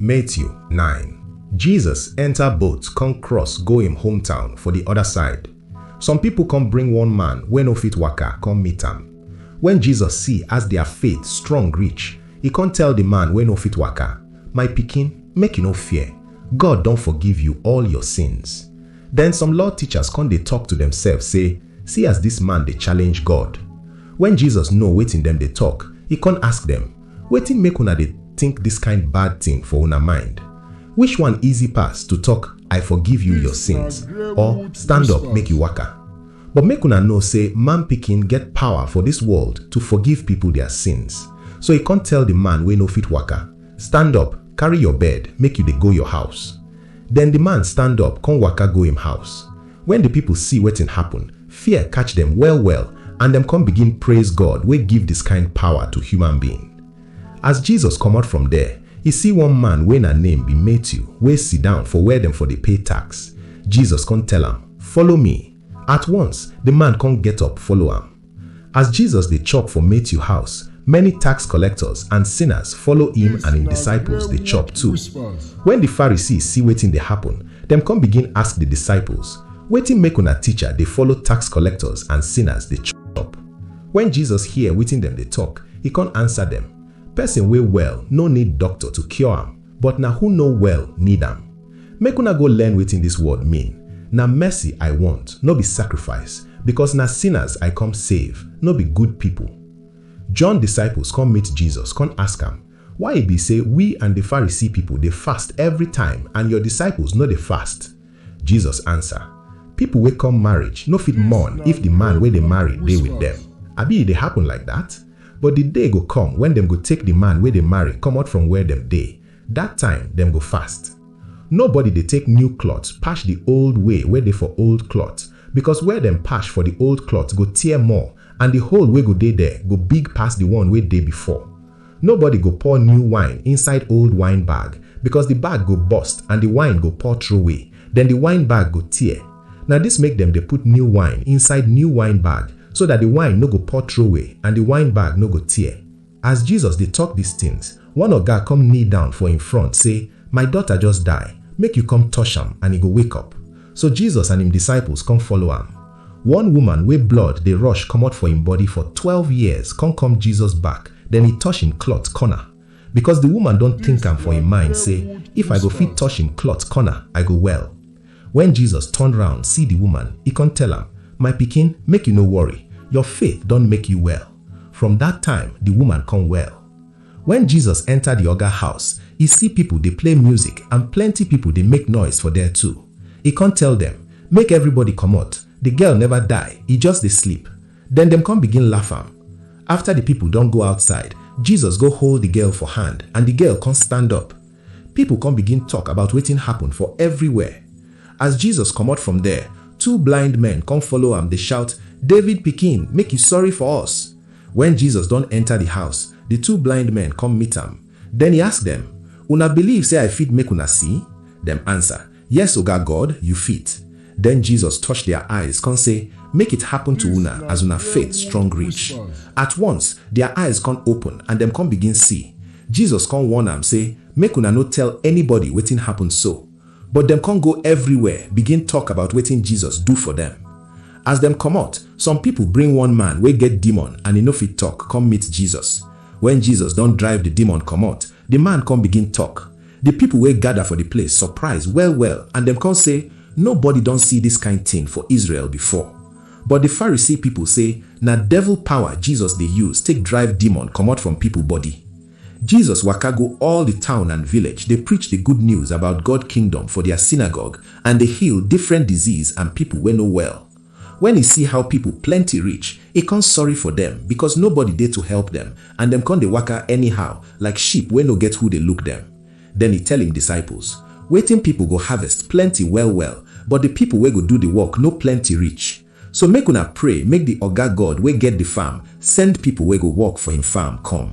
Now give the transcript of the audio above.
Matthew nine. Jesus enter boat come cross go im hometown for di oda side. Some pipo come bring one man wey no fit waka come meet am. Wen Jesus see as dia faith strong reach, e come tell di man wey no fit waka, My pikin, make you no fear, God don forgive you all your sins. Den some law teachers come dey tok to demsef sey, See as dis man dey challenge God! Wen Jesus know wetin dem dey tok, e come ask dem, Wetin make una dey think this kind bad thing for una mind? Which one easy pass to talk I forgive you your sins or stand up make you waka? But make una know say man pikin get power for this world to forgive people their sins. So e come tell the man wey no fit waka, Stand up, carry your bed make you dey go your house. Then the man stand up come waka go im house. Wen di pipol si wetin happen, fear catch dem well-well and dem kon begin praiz God wey give dis kind pawa to human being. As Jesus komot from der, e si one man wey na name bi Matthew wey sidown for where dem for dey pay tax. Jesus kon tell am, Follow mi! At once, di man kon get up follow am. As Jesus dey chop for Matthew house, many tax collectors and sinners follow him and him disciples dey chop too. When the Pharisees see wetin dey happen, dem come begin ask the disciples, Wetin make una teacher dey follow tax collectors and sinners dey chop? When Jesus hear wetin dem dey talk, he come answer dem, Person wey well no need doctor to cure am, But na who no well need am. Make una go learn wetin dis world mean, Na mercy I want, no be sacrifice, Because na sinners I come save, no be good people. John disciples come meet Jesus come ask am, Why e be say we and the Pharisee people dey fast every time and your disciples no dey fast? Jesus answer, People wey come marriage no fit mourn if the man wey dey marry dey with dem. Abi e dey happen like dat? But di day go come wen dem go take di man wey dey marry komot from where dem dey, dat time dem go fast. Nobody dey take new cloth pash di old way wey dey for old cloth, becos where dem pash for di old cloth go tear more and di hole wey go dey there go big pass di one wey dey before. Nobody go pour new wine inside old wine bag, becos di bag go burst and di wine go pour troway, den di wine bag go tear. Na dis make dem dey put new wine inside new wine bag, so dat di wine no go pour troway and di wine bag no go tear. As Jesus dey tok dis tins, one oga come kneel down for im front sey, My daughter just die, make you come touch am and e go wake up. So Jesus and im disciples come follow am. One woman wey blood dey rush comot for im body for twelve years come come Jesus back, den e touch im cloth corner. Becos di woman don tink am for im mind sey, If I go fit touch im cloth corner, I go well. Wen Jesus turn round see di woman, e kon tell am, My pikin, make you no worry, your faith don make you well. From dat time, di woman kon well. Wen Jesus enter di oga house, e see pipol dey play music and plenty pipol dey make noise for der too. E kon tell dem, Make evribody komot, di girl neva die, e just dey sleep. Den dem kon begin laff am. Afta di pipol don go outside, Jesus go hold di girl for hand and di girl kon stand up. Pipo kon begin tok about wetin happen for evriwhere. As Jesus komot from there, two blind men kon follow am dey shout, David Pikin, make yu sorry for us! Wen Jesus don enta di house, di two blind men kom meet am. Den e ask dem, Una biliv sey I fit make una si? Dem ansa, Yes, Oga God, you fit. Den Jesus touch dia eyes kon sey, Make it happen to una as una faith strong reach. At once, dia eyes kon open and dem kon begin see. Jesus kon warn am sey, Make una no tell anybody wetin happen so. But dem kon go everywhere begin tok about wetin Jesus do for dem. As dem komot, some pipol bring one man wey get demon and e no fit tok, kom meet Jesus. Wen Jesus don drive di demon komot, Di man kon bigin tok. Di pipol wey gada for di place sopraiz well-well and dem kon sey, Nobody don si dis kain tin for Israel before. But di Pharisee pipol sey na devil pawa Jesus dey yuz take drive demon komot from pipol body. Jesus waka go all di town and village dey preach di good news about God Kingdom for dia synagogue and dey heal difrent disease and pipol wey no well. Wen e si how pipol plenti rich, e kon sorry for dem, bikos nobody dey to help dem, and dem kon dey waka anyhow, like sheep wey no get who dey look dem. Den e tell im disciples, Wetin pipol go harvest plenti well-well, but di pipol wey go do di work no plenti rich. So make una pray make di Oga God wey get di farm send pipol wey go work for im farm kom.